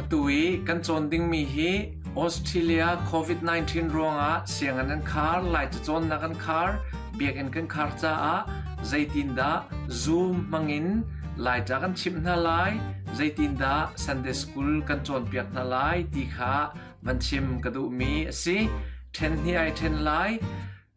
Atu i kan cawn dingmi hi Australia COVID-19 ruangah sianginn an khar, lai cacawnnak an khar, biakinn kan khar caah zeitindah Zoom hmangin Laica kan chimh hna lai, zeitindah Sunday School kan cawnpiak hna lai ti kha van chim ka duhmi a si. Ṭhen hni ai ṭhen lai.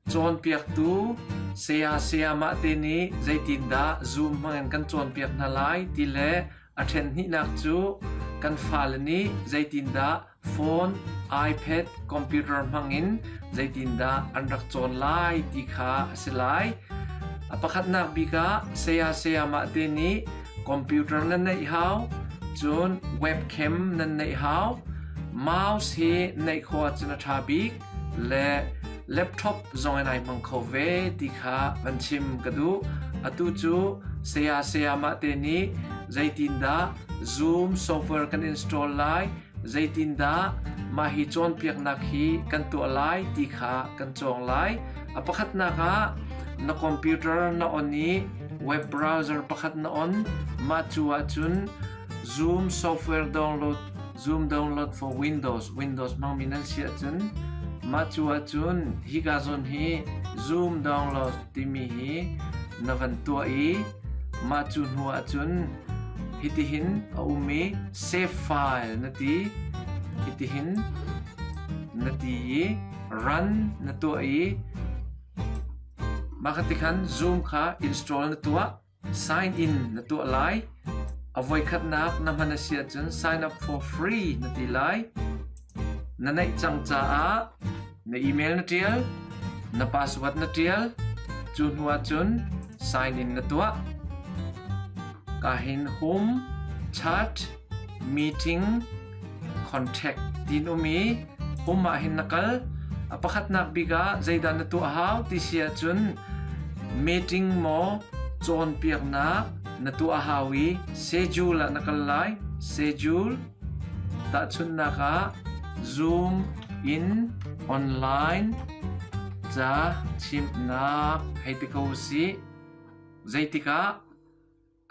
Cawnpiaktu, Saya sayamah te nih zeitindah Zoom hmangin kan cawnpiak hna lai ti le a ṭhenhnihnak cu kan fale nih zeitindah phone, iPad, computer hmangin zeitindah an rak cawn lai ti kha a si lai. A pakhatnak bik ah saya sayamah te nih computer nan neih hau, cun webcam nan neih hau. Mouse hi neih khawh ahcun a ṭha bik. le laptop zongin ai hmang kho ve ti kha van chim ka duh. Atu cu saya sayamah te nih zeitindah Zoom software kan install lai, zeitindah mah hi cawnpiaknak hi kan tuah lai ti kha kan cawng lai. A pakhatnak ah na computer na on i web browser pakhat na on mah cu ahcun Zoom software download Zoom download for Windows. Windows hmangmi nan si ahcun mah cu ahcun hika zawn hi Zoom download timi hi na van tuah i mah cu hnu ahcun hitihin a um i save file na ti hitihin na ti i run na tuah i mah kha ti khan Zoom kha install na tuah Sign in na tuah lai. A voikhatnak na hman a si ahcun sign up for free na ti lai. Na neih cang caah na email na ṭial, na password na ṭial. Cu hnu ahcun sign in na tuah. Ka hin hum, chat, meeting contract tin um i um ah hin na kal a pakhatnak bik ah zeidah na tuah hau ti si ahcun meeting maw cawnpiaknak na tuah hau i schedule ah na kal lai schedule tahchunnak ah zoom in online ca chimnak hei ti ko si zeitikah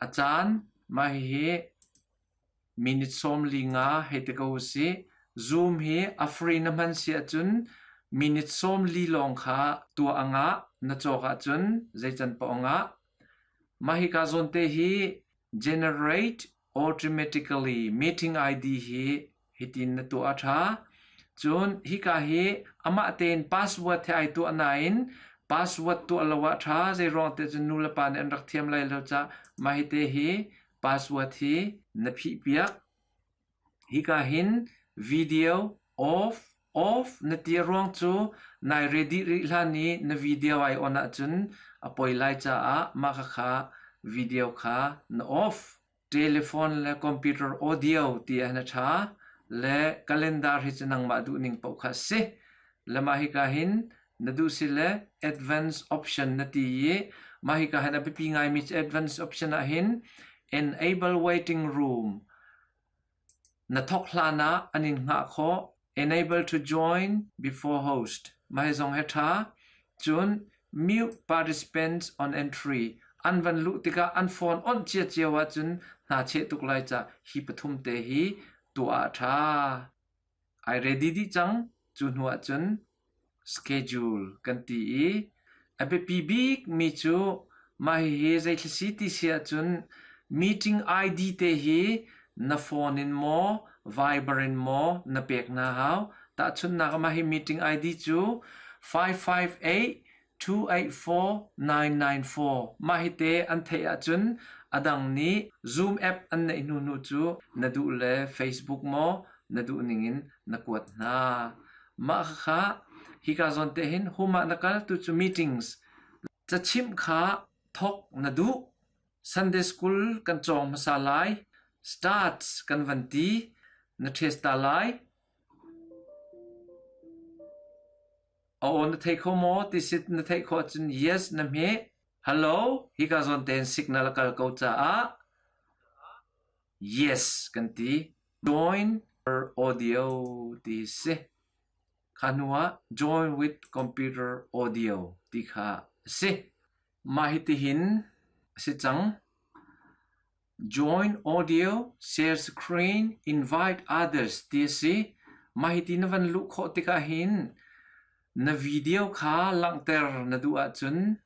a caan Mah hihi minute sawm li nga hei ti ko usih. Zoom hi a free na hman si ahcun minute sawm li lawng kha tuah a ngah. Na cawk ahcun zeican paoh a ngah. Mah hika zawn te hi generate automatically meeting ID hi Hitin na tuah a ṭha. Cun hika hi amah tein password he ai tuah nain password tuah lo ah ṭha zeiruang te cun nu le pa nih an rak thiam lai lo cah mah hite hi password hi na phihpiak. Hika hin video off off na ti ruang cu nai ready rih hlan i na video ai on ahcun a poi lai caah mah khakha video kha na off. telephone le computer audio ti ah na ṭha le calendar hi cu nangmah duhning paoh kha a si. Le mah hika hin na duh si le advance option na ti i mah hika hin a biapi ngaimi cu advance option ah hin enable waiting room Na thawk hlan ah an in hngah khawh. Enable to join before host. Mah zong hi ṭha. Cun mute participants on entry. An van luh tikah an phone onh ciacio ahcun hna cheh tuk lai cah hi pathum te hi tuah a ṭha. Ai ready dih cang. Cu hnu ahcun schedule kan ti i a biapi bikmi cu mah hihi zeithla si ti si ahcun meeting ID te hi na phone in maw Viber in maw na pek hna hau. Tahchunhnak ah mah hi meeting ID cu five five eight two eight four nine nine four mah hite an theih ahcun a dang nih Zoom app an neih hnuhnu cu na duh le Facebook maw na duh ningin na kuat hna. Mah khakha hika zawn te hin hum ah na kal tu cu meetings cachimh kha thawk na duh. Sunday school kan cawng hmasa lai. Starts kan van ti. Na ṭhes ta lai. A aw na thei kho maw ti sit na theih khawh ahcun yes na hmeh. Hello, hika zawn tein signal a kal ko caah yes kan ti. Join her audio ti si. Kha hnu ah join with computer audio ti kha a si. Mah hitihin a si cang. Join audio share screen invite others ti a si. Mah hiti na van luh khawh tikah hin na video kha langhter na duh ahcun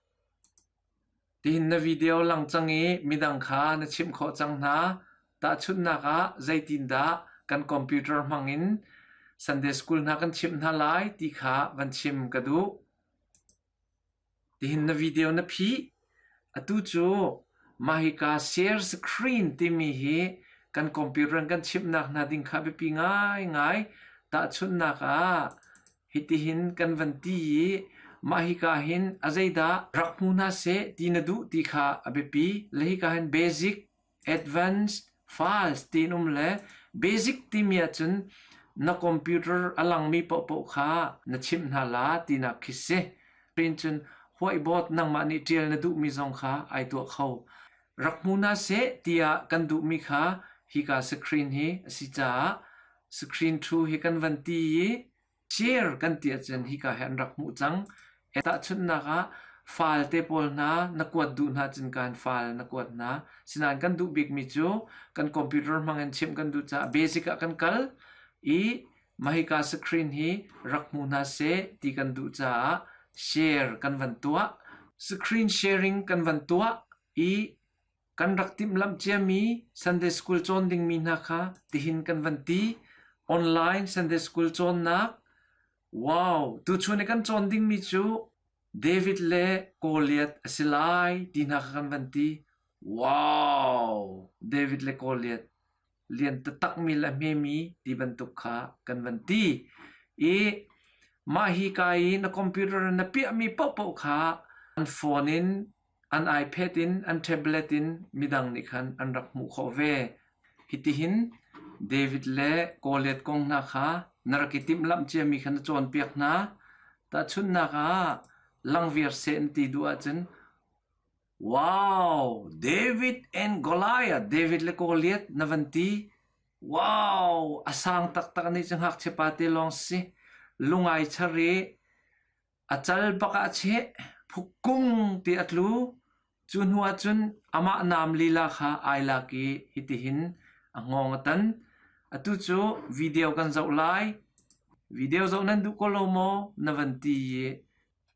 tihin na video lang cang i midang kha na chimh khawh cang hna. Tahchunhnak ah zeitindah kan computer hmangin Sunday School hna kan chimh hna lai ti kha van chim ka duh. Tihin na video na phih? Atu cu mah hika share screen timi hi kan computer in kan chimhnak hna ding kha a biapi ngaingai. Tahchunhnak ah, hitihin kan van ti i mah hika hin a zeidah rak hmu hna seh ti na duh ti kha a biapi. Le hika hin basic advance, fast tiin um le basic timi ahcun na computer a langmi paohpaoh kha na chimh hna la tinak khi si. Tiin cun whiteboard nangmah nih ṭial na duhmi zong kha ai tuah kho. Rak hmu hna seh tiah kan duhmi kha hika screen hi a si caah screen thu hi kan van ti i Cer kan ti ahcun hika hi an rak hmuh cang. Tahchunhnak ah, falte pawl hna na kuat duh hna ahcun kan fal na kuat hna. Sinain kan duh bikmi cu kan computer hmangin chimh kan duh caah basic ah kan kal i mahika screen hi rak hmu hna seh ti kan duh caah share kan van tuah. Screen sharing kan van tuah i Kan rak timhlamh ciami Sunday School cawn dingmi hna kha tihin kan van ti: Online Sunday School cawnnak Wow! Tuchun i kan cawn dingmi cu David le Goliath a si lai ti hna kha kan van ti. Wow! David le Goliath! liantatakmi le hmemi ti bantuk kha kan van ti i mah hika i na computer na piahmi paohpaoh kha an phone in an iPad in an tablet in midang nih khan an rak hmuh khawh ve hitihin David le Goliath kong hna kha na rak i timhlamh ciami kha na cawnpiak hna tahchunnak ah langviar seh ti duh ahcun Wow! David and Goliath, David le Goliath na van ti. Wow! A sang taktak nih cu ngakchiapa te lawng si. Lungai char i a cal bak ah a cheh. Phukkung ti a tlu. Cu hnu ah cun amah naam lila kha ai lak i hitihin a ngawng a tan. Atu cu video kan zoh lai. Video zoh nan duh ko lo maw? Na van ti i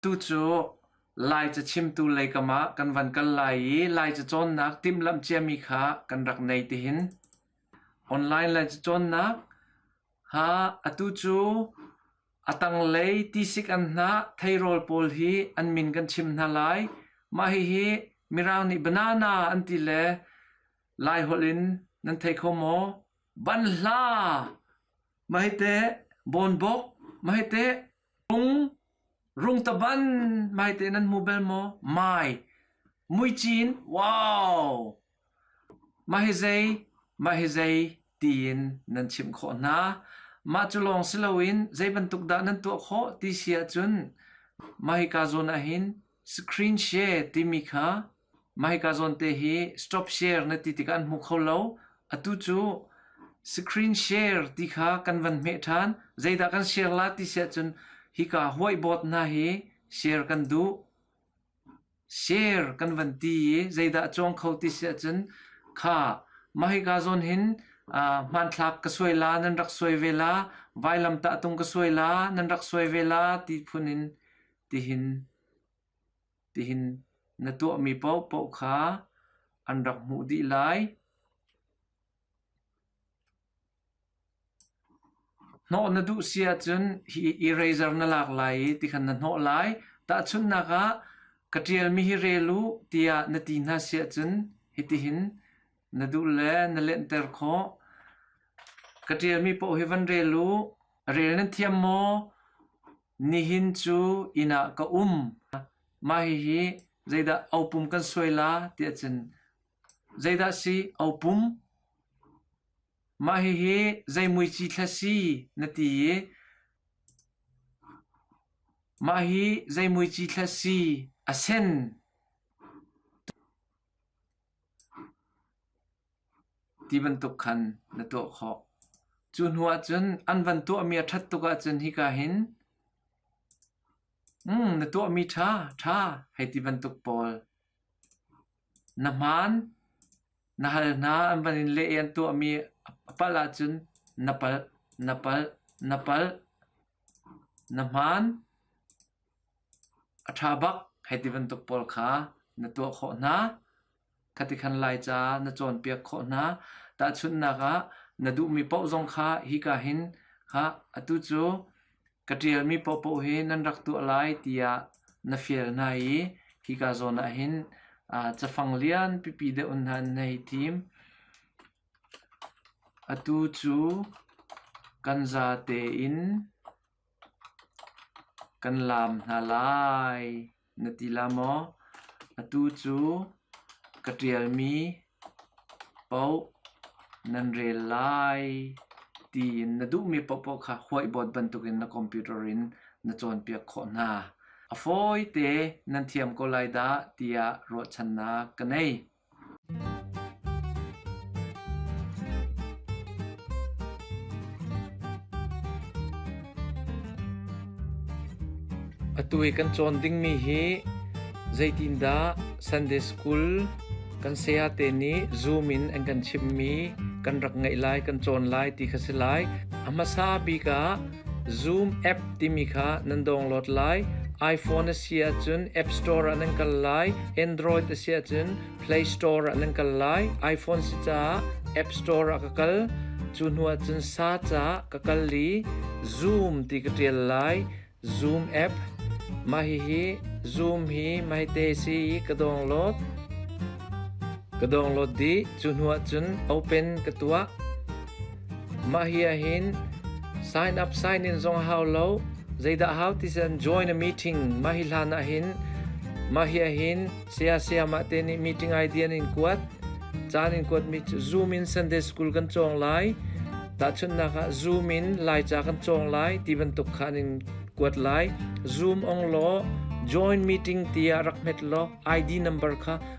Tucu Lai cachimtu lei kamah kan van kal lai i Lai cacawnnak timhlamh ciami kha kan rak nei tihin. Online Lai cacawnnak ha atu cu a tanglei tisik an hnah theirawl pawl hi an min kan chim hna lai. Mah hihi Mirang nih banana an ti le Lai holh in nan thei kho maw? Banhla! Mahite bonbok, mahite Rungtaban maite nan hmu bel maw? Mai, muici in wow! Mah hi zei, mah hi zei tiin nan chimh khawh hna. Mah cu lawng si loin zei bantuk dah nan tuah khawh ti si ahcun mah hika zawn ahhin screen share timi kha Mah hika zawn te hi stop share na ti tikah an hmu kho lo. Atu cu screen share ti kha kan van hmeh ṭhan. Zeidah kan share la ti si ahcun hika whiteboard hna hi share kan duh. Share kan van ti i zeidah a cuang kho ti si ahcun kha mah hika zawn hin aa hmanthlak ka suai la nan rak suai ve la, vailamtah tung ka suai la nan rak suai ve la ti phun in tihin. Tihin na tuahmi paohpaoh kha an rak hmuh dih lai. Hnawh na duh si ahcun hi eraser na lak lai i tikhan na hnawh lai. Tahchunhnak ah, ka ṭialmi hi rel u tiah na ti hna si ahcun hitihin na duh le na lenhter khawh. Ka ṭialmi paoh hi van rel u. Rel nan thiam maw? Nihin cu inn ah ka um, mah hihi zeidah opum kan suai la ti ahcun zeidah si opum? Mah hihi zei muici thlaw si na ti i mah hi zei muici thlaw si a sen? ti bantuk khan na tuah khawh. Cu hnu ahcun an van tuahmi a ṭhat tuk ahcun hika hin na tuahmi ṭha, ṭha hei ti bantuk pawl. Na hmaan, na hal hna, an van in leh i an tuahmi a palh ahcun na palh, na palh, na palh. Na hmaan, a ṭha bak hei ti bantuk pawl kha na tuah khawh hna. Ka ti khan Laica na cawnpiak khawh hna. Tahchunhnak ah, na duhmi paoh zong kha hika hin khah, atu cu ka ṭialmi paohpaoh hi nan rak tuah lai tiah na fial hna i hika zawn ah hin aa cafang lian pipi deuh hna an hei thim. Atu cu kan zate in Kan laam hna lai na ti la maw? Atu cu ka ṭialmi paoh nan rel lai tiin na duhmi paohpaoh kha huaihbawt bantukin na computer in na cawnpiak khawh hna. A fawite nan thiam ko lai dah tiah ruahchannak ka ngei. Atu i kan cawn dingmi hi zeitindah Sunday School kan sayate nih Zoom in an kan chimmi kan rak ngaih lai, kan cawn lai ti kha si lai. A hmasa bik ah Zoom app timi kha nan download lai. iPhone a si ahcun App Store ah nan kal lai. Android a si ahcun Play Store ah nan kal lai. iPhone si caah App Store ah ka kal. Cu hnu ahcun sa caah ka kal i Zoom ti ka ṭial lai. Zoom app. Mah hihi Zoom hi mahite si i ka download. Ka download dih. Cu hnu ahcun Open ka tuah. Mah hi ahhin sign up sign in zong a hau lo. Zeidah hau ti cun join a meeting mah hi hlan ahhin mah hi ahhin saya sayamah te nih meeting idea in kuat. Caan in kuatmi cu Zoom in Sunday school kan cawng lai. Tahchunhnak ah Zoom in Laica kan cawng lai ti bantuk khan in kuat lai. Zoom ong law join meeting tiah rak hmet law ID number kha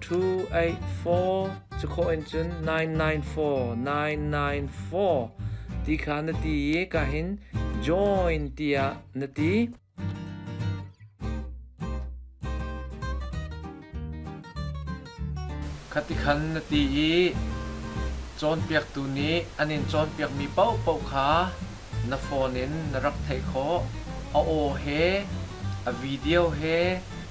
two eight four cu kho in cun nine nine four nine nine four ti kha na ti i ka hin join tiah na ti khati khan na ti i cawnpiaktu nih an in cawnpiakmi paohpaoh kha na phone in na rak theih khawh a aw he a video he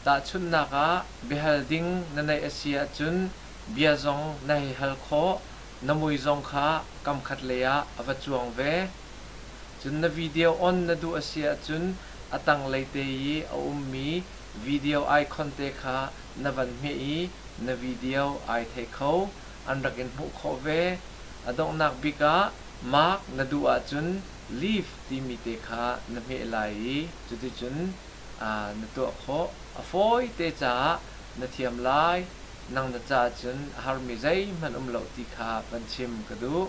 Tahchunhnak ah, biahal ding na neih a si ahcun bia zong na hei hal khawh, na mui zong kha kamkhat lei ah a va cuang ve. Cun na video on na duh a si ahcun a tanglei te i a ummi video icon te kha na van hmeh i na video ai thei kho. An rak in hmuh khawh ve. A donghnak bik ah mark na duh ahcun leave timi te kha na hmeh lai i cuticun na tuah khawh. A fawite caah na thiam lai, nang na caah cun a harmi zeihmanh um lo ti kha van chim ka duh.